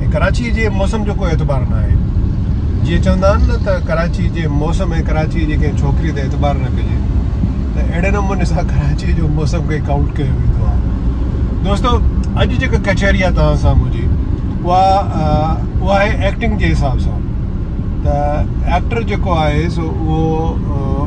۽ ڪراچيء جي موسم جو ڪو اعتبار نه آهي. جيئن چوندا آهن نه ته ڪراچيء جي موسم ۽ ڪراچيء جي ڪنهن ڇوڪريء تي اعتبار نه ڪجي ته اهڙي نموني سان ڪراچيء جو موسم کي ڪائونٽ ڪيو ويندو آهي. دوستو اڄ جيڪا ڪچهري آهي توهان سان منهنجي اها اها آهي ايڪٽنگ جي حساب سان ته ايڪٽر جيڪو آهي سو اهو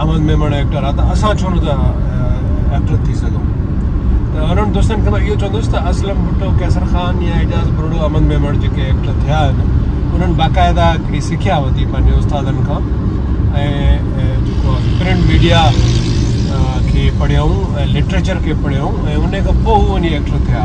احمد ميمڻ ايڪٽر آ ته اسان ڇو نٿا ايڪٽر ٿي سگهون ته انهن دوستن کي مان اهو چوندس ته اسلم ڀٽو قيصر خان يا اعجاز بروڙو احمد ميمڻ جيڪي ايڪٽر ٿيا آهن انهن باقاعده هڪڙي سکيا ورتي پنهنجي استادن کان ۽ جيڪو پرنٽ ميڊيا کي پڙهيائون ۽ لٽريچر کي پڙهيائون ۽ ان کان پوء هو وڃي ايڪٽر ٿيا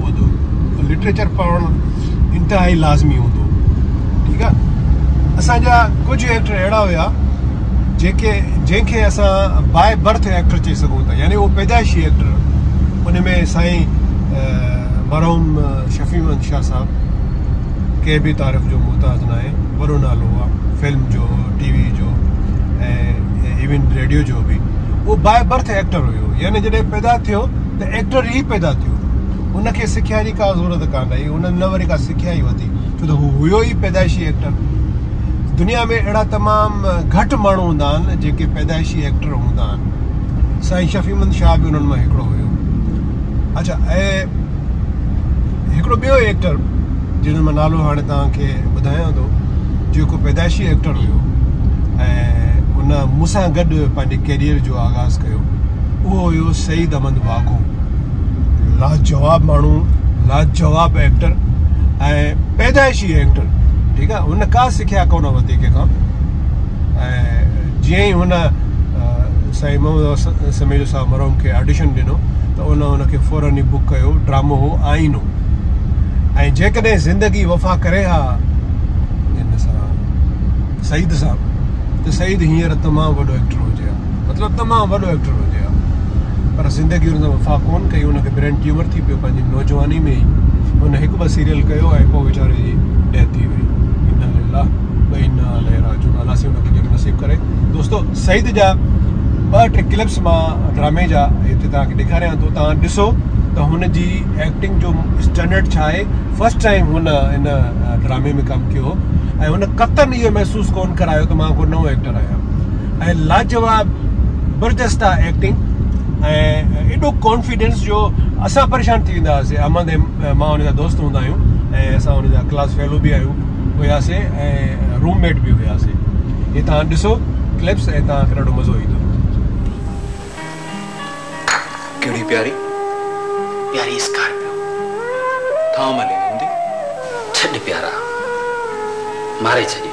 پوندو لٽريچر پڙهڻ انتهائي لازمي هوندو ٺيڪ آ اسان جا ڪجهه ايڪٽر اهڙا هيا جيڪي جنهن کي اسان باء برٿ ايڪٽر چئي سگهون ٿا يعني اهو پيدائشي ايڪٽر ان ۾ سائين مرحوم شفيع محمد شاهه صاحب ڪنهن به تعارف جو محتاج نه آهي وڏو نالو آ فلم جو ٽي وي جو ۽ ايون ريڊيو جو به اهو باء برٿ ايڪٽر هيو يعني جڏهن پيدا ٿيو ته ايڪٽر ئي پيدا ٿيو، هن کي سکيا جي ڪا ضرورت ڪانه هئي، هن نه وري ڪا سکيا ئي ورتي، ڇو ته هو هيو ئي پيدائشي ايڪٽر. دنيا ۾ اهڙا تمام گهٽ ماڻهو هوندا آهن، جيڪي پيدائشي ايڪٽر هوندا آهن. سائين شفيعمند شاهه به انهن مان هڪڙو هيو. اڇا ۽ هڪڙو ٻيو ايڪٽر جنهن جو مان نالو هاڻي توهان کي ٻڌايان ٿو، جيڪو پيدائشي ايڪٽر هيو ۽ ان مون سان گڏ پنهنجي ڪيريئر جو آغاز ڪيو، اهو هيو سعيد احمد واگهو لاجواب ماڻهو لاجواب ايڪٽر ۽ پيدائشي ايڪٽر ٺيڪ آهي هن کا سکيا ڪون ورتي کي کان ۽ جي هي هن سائين محمد سميجو صاحب مرحوم کي آڊيشن ڏنو ته ان ان کي فورن ئي بک ڪيو ڊرامو هو آئينو ۽ جيڪڏهن زندگي وفا ڪري ها سعيد صاحب ته سعيد هينئر تمام وڏو ايڪٽر هجي ها مطلب تمام وڏو ايڪٽر هجي ها پر زندگي ان سان وفا ڪون ڪئي ان کي برين ٽيومر ٿي پيو پنهنجي نوجواني ۾ ئي ان هڪ ٻه سيريل ڪيو ۽ پوء ويچاري جي ڊيٿ ٿي وئي ان لله وان عليه راجعون الله سي ان کي جنت نصيب ڪري دوستو سعيد جا ٻه ٽي کلپس مان ڊرامي جا هتي توهان کي ڏيکاريان ٿو توهان ڏسو ته هن جي ايڪٽنگ جو اسٽينڊرڊ ڇا آهي فرسٽ ٽائم هن ان ڊرامي ۾ ڪم ڪيو هو ۽ هن قطن اهو محسوس ڪون ڪرايو ته مان ڪو نئون ايڪٽر آهيان ۽ لاجواب برجسته ايڪٽنگ ۽ ايڏو ڪانفيڊنس جو اسان پريشان ٿي ويندا هئاسين احمد ۽ مان ان جا دوست هوندا آهيون ۽ اسان ان جا ڪلاس فيلو به آهيون هياسي ۽ روم ميٽ به هياسي هي تان ڏسو ڪلپس ۽ تان کي ڏاڍو مزو ايندو ڪهڙي پياري پياري اسڪارپيو ٿا ملي هوندي ڇڏ پيارا ماري ڇڏي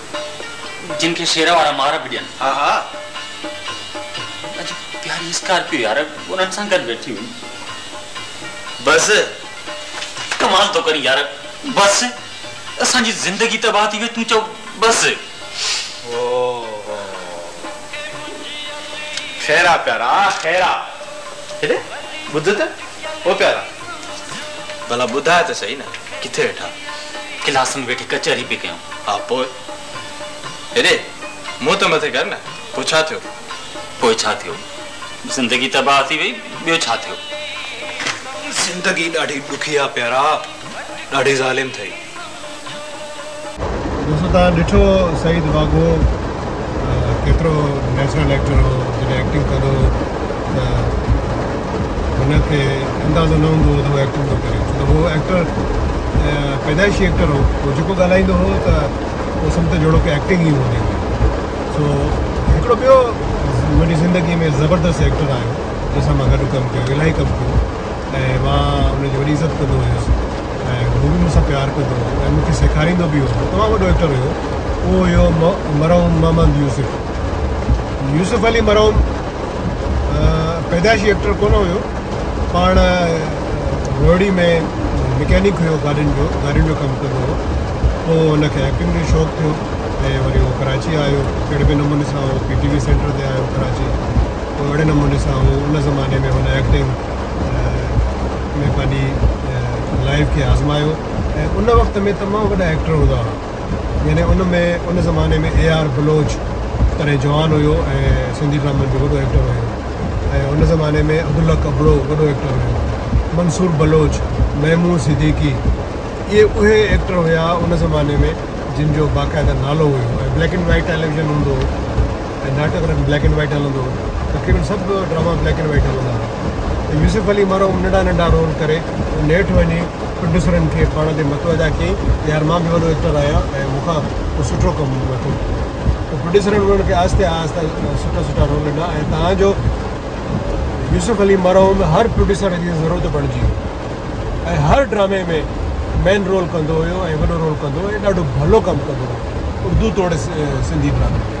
جن کي شير وارا مار به ڏين. ها ها. اڄ پياري اسڪارپيو يار انهن سان گڏ ويٺي هئي. بس. ڪمال ٿو ڪرين يار. بس. اسان جي زندگي تباهه ٿي وئي تون چئو بس. هو هو. خير آ پيارا خير آ. هيڏي ٻڌ ته او پيارا. ڀلا ٻڌاء ته سهي نه ڪٿي ويٺا؟ ڪلاس ۾ ويٺي ڪچهري پئي ڪيون. ها پوء؟ هيڏي منهن ته مٿي ڪر نه، پوء ڇا ٿيو؟ پوء ڇا ٿيو؟ زندگي تباهه ٿي وئي، ٻيو ڇا ٿيو؟ زندگي ڏاڍي ڏکي آ پيارا، ڏاڍي ظالم ٿئي. دوستو تان ڏٺو سعيد واگهو ڪيترو نيچرل ايڪٽر هو جڏهن ايڪٽنگ ڪندو هو ته هن کي اندازو نه هوندو هو ته هو ايڪٽنگ ٿو ڪري ڇو ته هو ايڪٽر پيدائشي ايڪٽر هو هو جيڪو ڳالهائيندو هو ته هو سمجهو جهڙو ڪي ايڪٽنگ ئي هوندي هئي سو هڪڙو ٻيو منهنجي زندگي ۾ زبردست ايڪٽر آيو جنهن سان مان گڏ ڪم ڪيو الاهي ڪم ڪيو ۽ مان ان جي وڏي عزت ڪندو هيس ۽ هو به مون سان پيار ڪندو هو ۽ مون کي سيکاريندو به هو. هو تمام وڏو ايڪٽر هيو. اهو هيو مرحوم محمد يوسف. يوسف علي مرحوم پيدائشي ايڪٽر ڪونه هيو. پاڻ روهڙي ۾ مڪينڪ هيو گاڏين جو، گاڏين جو ڪم ڪندو هو. پوء هن کي ايڪٽنگ جو شوق ٿيو ۽ وري هو ڪراچي آيو. اهڙي به نموني سان هو پي ٽي وي سينٽر تي آيو ڪراچي. پوء اهڙي نموني سان هو ان زماني ۾ هن ايڪٽنگ ۾ پنهنجي لائيف کي آزمايو ۽ ان وقت ۾ تمام وڏا ايڪٽر هوندا هئا يعني ان ۾ ان زماني ۾ اي آر بلوچ تڏهن جوان هيو ۽ سنڌي ڊرامن جو وڏو ايڪٽر هيو ۽ ان زماني ۾ عبدالحق ابڙو وڏو ايڪٽر هيو منصور بلوچ محمود صديقي اهي اهي ايڪٽر هيا ان زماني ۾ جن جو باقاعده نالو هيو ۽ بليڪ اينڊ وائٽ ٽيليويزن هوندو هو ناٽڪ انهن بليڪ اينڊ وائيٽ هلندو هو تقريبن سڀ ڊراما بليڪ اينڊ وائيٽ هلندا هئا ته يوسف علي مرحوم ننڍا ننڍا رول ڪري نيٺ وڃي پروڊيوسرن کي پاڻ تي متوجا ڪيئي ته يار مان به وڏو ايڪٽر آهيان ۽ مون کان ڪو سٺو ڪم وٺو ته پروڊيوسرن انهن کي آهستي آهستي سٺا سٺا رول ڏنا ۽ تان جو يوسف علي مرحوم هر پروڊيوسر جي ضرورت بڻجي ويو ۽ هر ڊرامي ۾ مين رول ڪندو هيو ۽ وڏو رول ڪندو هو ۽ ڏاڍو ڀلو ڪم ڪندو هو اردو توڙي سنڌي ڊرامي ۾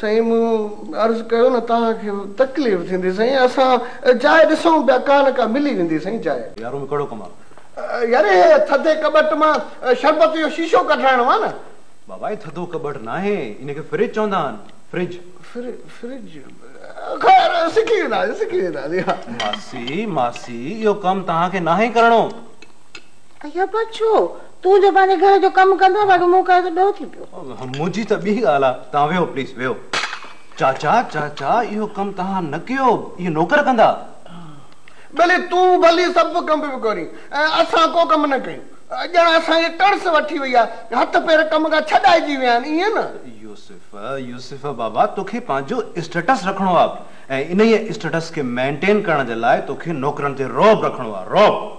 سائين مون عرض ڪيو نه توهان کي تڪليف ٿيندي سائين اسان جاء ڏسون پيا ڪا نه ڪا ملي ويندي سائين جاء. يارو ۾ ڪهڙو ڪم آ. ياري هي ٿڌي ڪٻٽ مان شربت جو شيشو ڪڍرائڻو آ نه. بابا هي ٿڌو ڪٻٽ ناهي ان کي فرج چوندا آهن فرج. فر فرج خير سکي وينداسين سکي وينداسين. ماسي ماسي اهو ڪم توهان کي ناهي ڪرڻو. ايا پاڻ ڇو؟ تون جو پنهنجي گهر جو ڪم ڪندو آهين، باقي مون ڪيو ته ڏوهه ٿي پيو. منهنجي ته ٻي ڳالهه آهي، توهان ويهو پليز ويهو. چاچا، چاچا، اهو ڪم توهان نه ڪيو، اهي نوڪر ڪندا. ڀلي تون ڀلي سڀ ڪم به ڪرين ۽ اسان ڪو ڪم نه ڪيون. ڄڻ اسان کي ٽڙس وٺي وئي آهي، هٿ پير ڪم کان ڇڏائجي ويا آهن، ائين نه؟ يوسف، يوسف بابا، توکي پنهنجو اسٽيٽس رکڻو آهي ۽ انهيء اسٽيٽس کي مينٽين ڪرڻ جي لاء توکي نوڪرن تي رعب رکڻو آهي، رعب.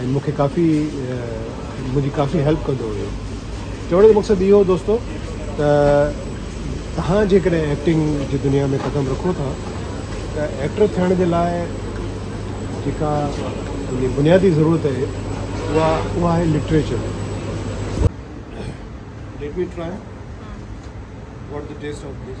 ۽ مون کي ڪافي منهنجي ڪافي هيلپ ڪندو هيو چوڻ جو مقصد اهو هو دوستو ته تهان جيڪڏهن ايڪٽنگ جي دنيا ۾ قدم رکو ٿا ته ايڪٽر ٿيڻ جي لاء جيڪا تنهنجي بنيادي ضرورت آهي اها اها آهي literature Let me try what the taste of this.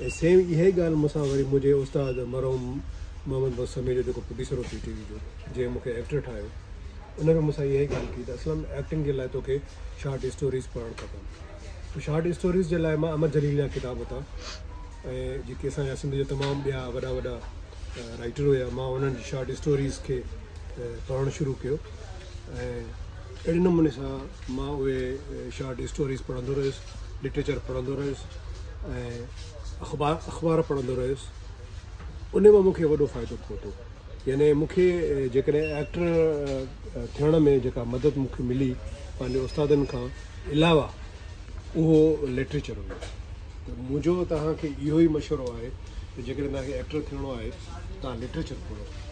۽ Same اهائي ڳالهه مون سان وري منهنجي استاد مرحوم محمد بخش سمي جو جيڪو پروڊيوسر هو پي ٽي وي جو جنهن مون کي ايڪٽر ٺاهيو ان به مون سان اهائي ڳالهه ڪئي ته اسلم ايڪٽنگ جي لاء توکي شارٽ اسٽوريز پڙهڻ کپن ته شارٽ اسٽوريز جي لاء مان امر جليل جا ڪتاب ورتا ۽ جيڪي اسان جا سنڌ جا تمام ٻيا وڏا وڏا رائيٽر هيا مان انهن جي شارٽ اسٽوريز کي پڙهڻ شروع ڪيو ۽ اهڙي نموني سان مان اهي شارٽ اسٽوريز پڙهندو رهيس لٽريچر پڙهندو رهيس ۽ اخبار اخبار پڙهندو رهيس ان مان مونکي وڏو فائدو پهتو يعني مونکي جيڪڏهن ايڪٽر ٿيڻ ۾ جيڪا مدد مونکي ملي پنهنجي استادن کان علاوه اهو لٽريچر هو ته منهنجو توهان کي اهو ئي مشورو آهي ته جيڪڏهن توهان کي ايڪٽر ٿيڻو آهي توهان لٽريچر پڙهو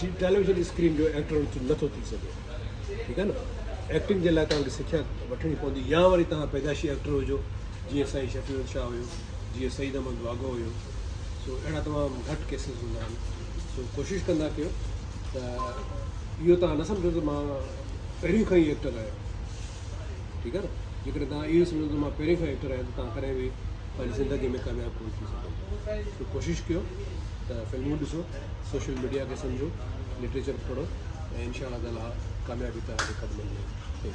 جي ٽيليويزن اسڪرين جو ايڪٽر نٿو ٿي سگهي ٺيڪ آهي نه ايڪٽنگ جي لاء توهان کي سکيا وٺڻي پوندي يا وري توهان پيدائشي ايڪٽر هجو جيئن سائين شفيع الحق شاهه هيو جيئن سعيد احمد واگو هيو سو اهڙا تمام گهٽ ڪيسز هوندا آهن سو ڪوشش ڪندا ڪيو ته اهو توهان نه سمجهو ته مان پهريون کان ئي ايڪٽر آهيان ٺيڪ آهي نه جيڪڏهن توهان اهو سمجهو ته مان پهرين کان ايڪٽر آهيان ته توهان ڪڏهن به پنهنجي زندگي ۾ ڪامياب ڪونه ٿي سگهندو سو ڪوشش ڪيو ته فلمون ڏسو سوشل ميڊيا کي سمجهو لٽريچر پڙهو ۽ انشاء الله تعاليٰ ڪاميابي توهان جي قدمن ۾